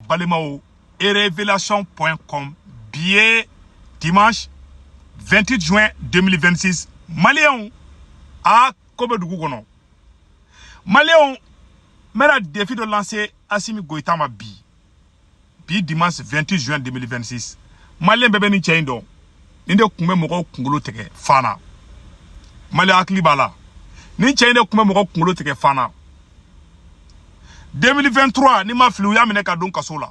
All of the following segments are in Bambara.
balimaw e révélation point com bi ye dimanche 28 juin 2026 maliyɛnw a ko bɛ dugu kɔnɔ maliyɛnw n bɛna défi dɔ lancer asimi goyita ma bi bi dimanche 28 juin 2026 maliyɛn bɛɛ bɛ nin cɛ in dɔn nin de kun bɛ mɔgɔw kunkolo tigɛ fana maliyɛn hakili b'a la nin cɛ in de kun bɛ mɔgɔw kunkolo tigɛ fana 2023 ni n ma fili u y'a minɛ ka don kaso la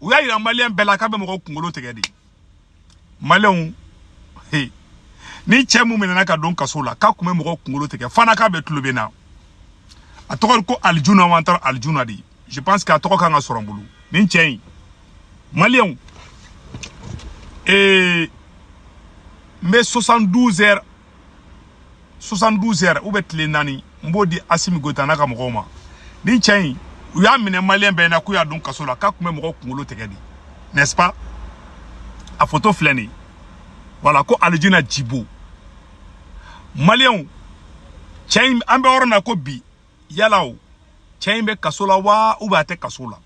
u y'a yira maliyɛn bɛɛ la k'a bɛ mɔgɔw kunkolo tigɛ de maliyɛnw he nin cɛ min minɛna ka don kaso la k'a kun bɛ mɔgɔ kunkolo tigɛ fana k'a bɛ tulo bɛ na a tɔgɔ ko alijuna wa an taara alijuna de je pense que a tɔgɔ kan ka sɔrɔ n bolo nin cɛ in maliyɛnw ee n bɛ 72 heures 72 heures ou bien tile naani n b'o di Asimi Goyita n'a ka mɔgɔw ma nin cɛ in u y'a minɛ maliyɛn bɛɛ na k'u y'a don kaso la k'a kun bɛ mɔgɔw kunkolo tigɛ de n'est-ce pas a photo filɛ nin ye voilà ko alijuna jibo maliyɛnw cɛ in an bɛ yɔrɔ min na ko bi yala o cɛ in bɛ kaso la wa ou bien a tɛ kaso la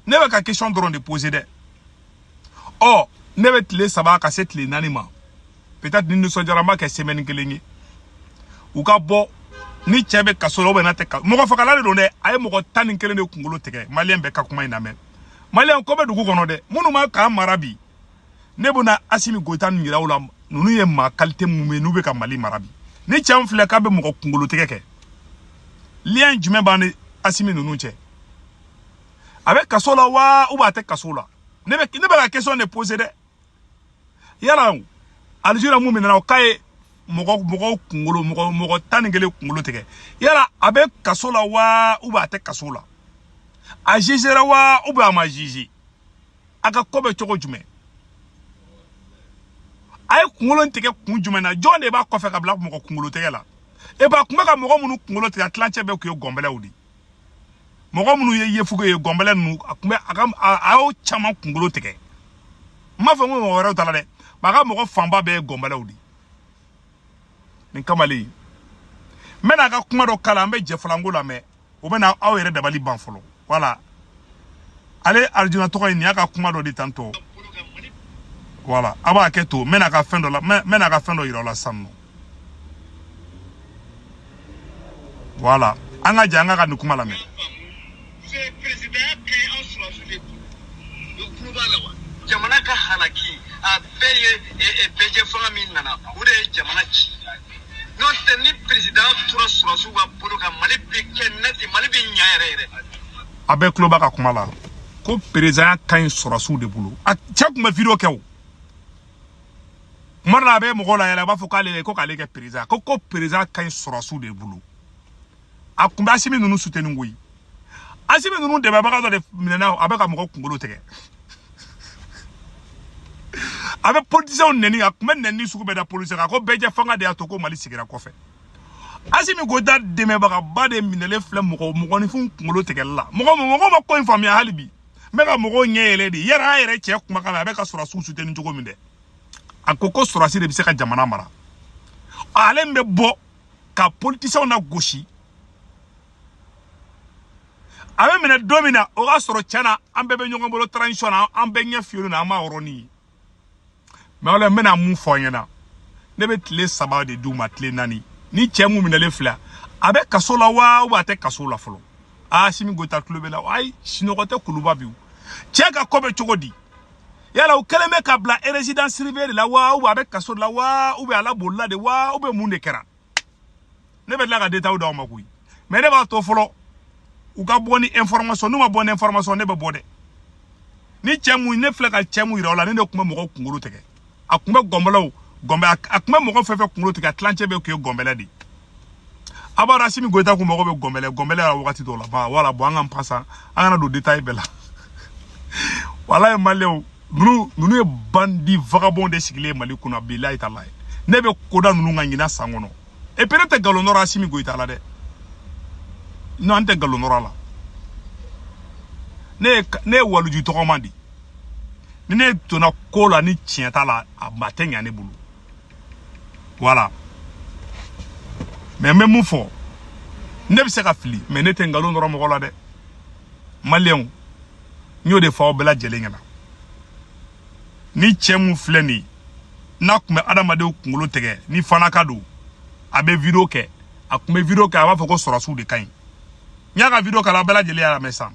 ne bɛ ka question dɔrɔn de poser dɛ ɔ ne bɛ tile saba ka se tile naani ma peut-être ni n nisɔndiyara n b'a kɛ semaine kelen ye u ka bɔ ni cɛ bɛ kaso la ou bien n'a tɛ kaso mɔgɔ fagala de don dɛ a ye mɔgɔ tan ni kelen de kunkolo tigɛ maliyɛn bɛɛ ka kuma in lamɛn maliyɛn ko bɛ dugu kɔnɔ dɛ minnu bɛ k'an mara bi ne bɛna asimi goyita nin yira aw la ninnu ye maa qualité minnu ye n'u bɛ ka mali mara bi nin cɛ min filɛ k'a bɛ mɔgɔ kunkolo tigɛ quel lien jumɛn b'a ni asimi ninnu cɛ a bɛ kaso la wa ou a tɛ kaso la ne bɛ ne bɛ ka question de poser dɛ yala alijuna min minɛna o k'a ye mɔgɔ mɔgɔw kunkolo mɔgɔ mɔgɔ tan ni kelen kunkolo tigɛ yala a bɛ kaso la wa ou a tɛ kaso la a jugera wa ou a ma juge a ka ko bɛ cogo jumɛn a ye kunkolo tigɛ kun jumɛn na jɔn de b'a kɔfɛ k'a bila mɔgɔ kunkolo tɛgɛ la e ba a kun bɛ ka mɔgɔ minnu kunkolo tigɛ a tilancɛ bɛɛ tun ye gɔnbɛlɛw de mɔgɔ minnu ye yefuge ye gɔnbɛlɛ ninnu a kun bɛ a ka a y'o caman kunkolo tigɛ n m'a fɔ n ko mɔgɔ wɛrɛw t'a la dɛ a ka mɔgɔ fanba bɛɛ ye gɔnbɛlɛw de nin kamalen n bɛna a ka kuma dɔ k'a la an bɛ jɛ filɛ an k'o lamɛn o bɛna aw yɛrɛ dabali ban fɔlɔ voilà ale alijuna tɔgɔ in nin y'a ka kuma dɔ de tan tɔ voilà a b'a kɛ to n bɛna a ka fɛn dɔ la n bɛna a ka fɛn dɔ yira aw la sisan nɔ voilà an ka jɛ an k'a ka nin kuma lamɛn jamana ka halaki a bɛɛ ye bɛɛjɛ fanga min nana o de ye jamana ci n'o tɛ ni perezida tora sɔrɔsiw ka bolo kan mali bɛ kɛ nɛti mali bɛ ɲa yɛrɛ yɛrɛ a bɛɛ tulo b'a ka kuma la ko perezanya ka ɲi sɔrɔsiw de bolo a cɛ tun bɛ video kɛ o kuma dɔ la a bɛ mɔgɔw layɛlɛ a b'a fɔ k'ale ko k'ale kɛ perezan ko ko perezanya ka ɲi sɔrɔsiw de bolo a kun bɛ asimi ninnu suteni koyi asimi ninnu dɛmɛbaga dɔ de minɛna a bɛ ka mɔgɔ kunkolo tigɛ a bɛ politisɛnw nɛni a kun bɛ nɛni sugu bɛɛ da politisɛnw kan ko bɛɛ jɛ fanga de y'a to ko mali sigira kɔfɛ asimi goyita dɛmɛbagaba de minɛlen filɛ mɔgɔ mɔgɔninfin kunkolo tigɛli la mɔgɔ mɔgɔ ma ko in faamuya hali bi n bɛ ka mɔgɔw ɲɛ yɛlɛ de yɛrɛ an yɛrɛ cɛ kumakan na a bɛ ka sɔrɔsiw suteni cogo min dɛ a ko ko sɔrɔsi de bɛ se ka jamana mara ale min bɛ bɔ ka politiciens nagosi a bɛ minɛ don min na o k'a sɔrɔ tiɲɛ na an bɛɛ bɛ ɲɔgɔn bolo transition na an bɛɛ ɲɛ fiyɛlen na an m'a yɔrɔnin ye mɛ o la n bɛna mun fɔ aw ɲɛna ne bɛ tile saba de d'u ma tile naani ni cɛ mun minɛlen filɛ a bɛ kaso la wa ou bien a tɛ kaso la fɔlɔ asimi goyita tulo bɛ la ayi sinɔgɔ tɛ kuluba bi o cɛ ka ko bɛ cogo di yala u kɛlen bɛ k'a bila résidence surveillée de la wa ou bien a bɛ kaso de la wa ou bien ale bolila de wa ou bien mun de kɛra ne bɛ tila ka détail d'aw ma koyi mais ne b'a to fɔlɔ u ka bɔ ni information n'u ma bɔ ni information ne bɛ bɔ dɛ ni cɛ mun ne filɛ ka cɛ mun yira aw la nin de tun bɛ mɔgɔw kunkolo tigɛ a tun bɛ gɔnbɛlɛw gɔnbɛ a tun bɛ mɔgɔ fɛn fɛn kunkolo tigɛ a tilancɛ bɛɛ tun ye gɔnbɛlɛ de ye a b'a dɔn asimi goyita kun mago bɛ gɔnbɛlɛ gɔnbɛlɛ la wagati dɔw la ba wala bon an k'an pasa an kana don detaye bɛɛ la walayi maliyɛnw ninnu ninnu ye bandi vagabond de sigilen ye mali kunna bilayi talayi ne bɛ ko da ninnu kan ɲinan san kɔnɔ e pere tɛ nkalon nɔrɔ asimi goyita la dɛ non an tɛ nkalon nɔrɔ a la ne ye ne ye waliju tɔgɔma de ye ni ne donna ko la ni tiɲɛ t'a la a baara tɛ ɲa ne bolo voilà mɛ n bɛ mun fɔ ne bɛ se ka fili mɛ ne tɛ nkalon nɔrɔ mɔgɔ la dɛ maliyɛnw n y'o de fɔ aw bɛɛ lajɛlen ɲɛna ni cɛ mun filɛ nin ye n'a tun bɛ adamadenw kunkolo tigɛ nin fana ka dɔn a bɛ video kɛ a tun bɛ video kɛ a b'a fɔ ko sɔrɔsiw de ka ɲi n y'a ka video k'a la a bɛɛ lajɛlen y'a lamɛn sisan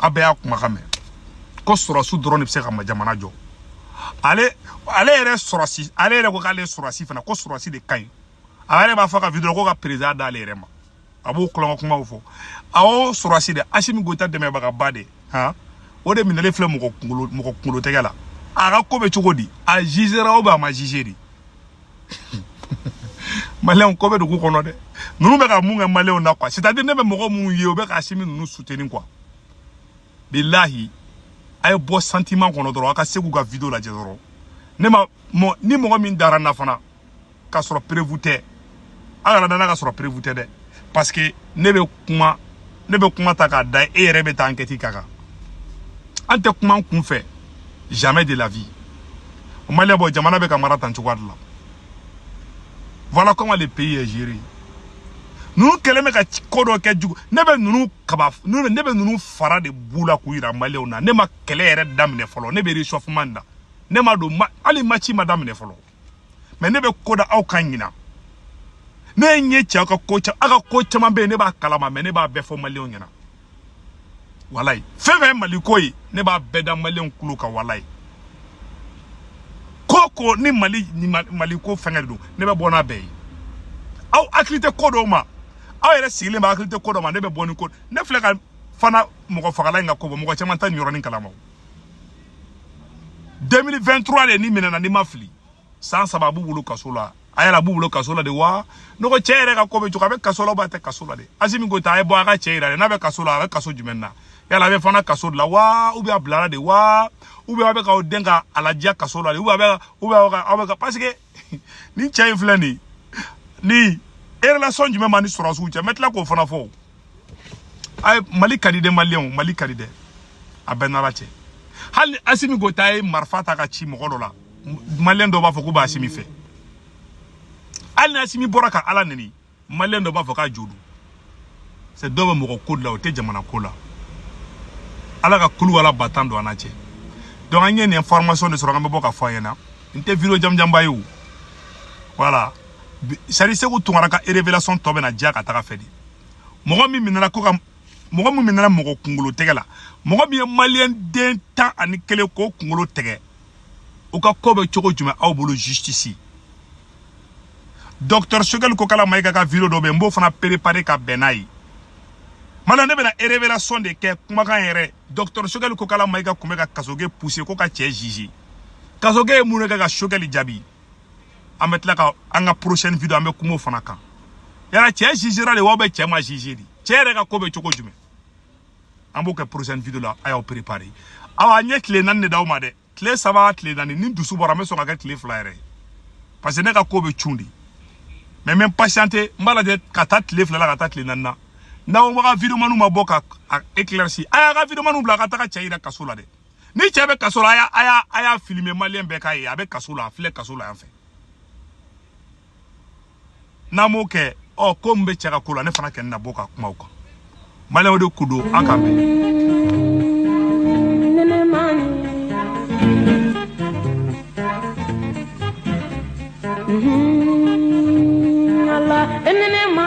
a bɛɛ y'a kumakan mɛn ko sɔrɔsi dɔrɔn de bɛ se ka jamana jɔ ale ale yɛrɛ sɔrɔsi ale yɛrɛ ko k'ale sɔrɔsi fana ko sɔrɔsi de ka ɲi a yɛrɛ b'a f'a ka video ko ka perezan d'ale yɛrɛ ma a b'o tulonko kumaw fɔ awɔ sɔrɔsi de asimi goyita dɛmɛbagaba de han o de minɛlen filɛ mɔgɔ kunkolo tɛgɛ la a ka ko bɛ cogo di a jizera ou bien a ma jize de maliyɛnw ko bɛ dugu kɔnɔ dɛ ninnu bɛ ka mun kɛ maliyɛnw na quoi c'est à dire ne bɛ mɔgɔ minnu ye u bɛ ka asimi ninnu soutenir quoi bilahi a ye bɔ sentiment kɔnɔ dɔrɔn a ka seku ka video lajɛ dɔrɔn ne ma ni mɔgɔ min dara n na fana k'a sɔrɔ preuve tɛ aw kana da n na k'a sɔrɔ preuve tɛ dɛ parce que ne bɛ kuma ta k'a da e yɛrɛ bɛ taa enquête k'a kan an tɛ kuma n kun fɛ jamais de la vie o maliyɛnw bɔ jamana bɛ ka mara tan cogoya de la voilà comment le pays est géré ninnu kɛlen bɛ ka ko dɔ kɛ jugu ne bɛ ninnu kaba ne bɛ ninnu fara de b'u la k'u yira maliyɛnw na ne ma kɛlɛ yɛrɛ daminɛ fɔlɔ ne bɛ réchauffement de la ne ma don hali maci ma daminɛ fɔlɔ mais ne bɛ ko da aw kan ɲinan ne ye n ye cɛw ka ko caman aw ka ko caman bɛ yen ne b'a kalama mais ne b'a bɛɛ fɔ maliyɛnw ɲɛna walayi fɛn o fɛn ye maliko ye ne b'a bɛɛ da maliyɛnw tulo kan walayi ko o ko ni mali ni maliko fɛngɛ de don ne bɛ bɔ n'a bɛɛ ye aw hakili tɛ ko dɔw ma aw yɛrɛ sigilen b'a hakili tɛ ko dɔw ma ne bɛ bɔ ni ko ne filɛ ka fana mɔgɔ fagala in ka ko bɔ mɔgɔ caman tɛ nin yɔrɔnin kalama 2023 de nin minɛna ni n ma fili san saba a b'u bolo kaso la a yala a b'u bolo kaso la de wa ne ko cɛ yɛrɛ ka ko bɛ cogo a bɛ kaso la ou bien a tɛ kaso la de asimi goyita a ye bɔ a ka cɛ yira dɛ n'a bɛ kaso la a bɛ kaso jumɛn na yala a bɛ fana kaso de la wa ou bien a bilara de wa ou bien aw bɛ k'aw den ka a ladiya kaso la de ou bien aw bɛ ka ou bien aw bɛ ka aw bɛ ka parce que nin cɛ in filɛ nin ye relation jumɛn b'a ni sɔrɔdasiw cɛ n bɛ tila k'o fana fɔ a ye mali ka di dɛ maliyɛnw mali ka di dɛ a bɛ n n'ala cɛ hali ni asimi goyita ye marifa ta k'a ci mɔgɔ dɔ la maliyɛn dɔ b'a fɔ k'u bɛ asimi fɛ hali ni asimi bɔra ka ala neni maliyɛn dɔ b'a fɔ k'a jo don c'est dɔw bɛ mɔgɔ ko de la u tɛ jamana ko la ala ka kulu wala ba tan don an n'a cɛ donc an ye nin information de sɔrɔ an bɛ bɔ k'a fɔ a ɲɛna nin tɛ video jamanjanba ye o voilà sari seku tunkara ka révélation tɔ bɛna diya ka taga a fɛ dɛ mɔgɔ min minɛna ko ka mɔgɔ min minɛna mɔgɔ kunkolo tɛgɛ la mɔgɔ min ye maliyɛn den tan ani kelen k'o kunkolo tɛgɛ u ka ko bɛ cogo jumɛn aw bolo justice docteur sogɛli kokala mayiga ka video dɔ bɛ n b'o fana préparer ka bɛn n'a ye mala ne bɛna révélation de kɛ kumakan yɛrɛ docteur sogɛli kokala mayiga tun bɛ ka kasoge pousser ko ka cɛ juger kasoge ye mun de kɛ ka sogɛli jaabi an bɛ tila ka an ka prochaine video an bɛ kuma o fana kan yala cɛ jugera de ou bien cɛ ma juger de cɛ yɛrɛ ka ko bɛ cogo jumɛn an b'o kɛ prochaine video la a y'aw préparer awa n ye tile naani de d'aw ma dɛ tile saba tile naani ni dusu bɔra n bɛ sɔn ka kɛ tile fila yɛrɛ parce que ne ka ko bɛ cun de mais n bɛ n patienter n b'a lajɛ ka taa tile fila la ka taa tile naani na n'aw ka videomaniw ma bɔ k'a éclairci a y'aw ka videomaniw bila ka taga cɛ yira kaso la dɛ ni cɛ bɛ kaso la a y'a a y'a a y'a filmer maliyɛn bɛɛ k'a ye a bɛ kaso la a filɛ kaso la yan fɛ n'a m'o kɛ ɔ ko min bɛ cɛ ka ko la ne fana kɛ n na bɔ ka kuma o kan maliyɛnw de ko don an k'an bɛn Allah ni nɛɛma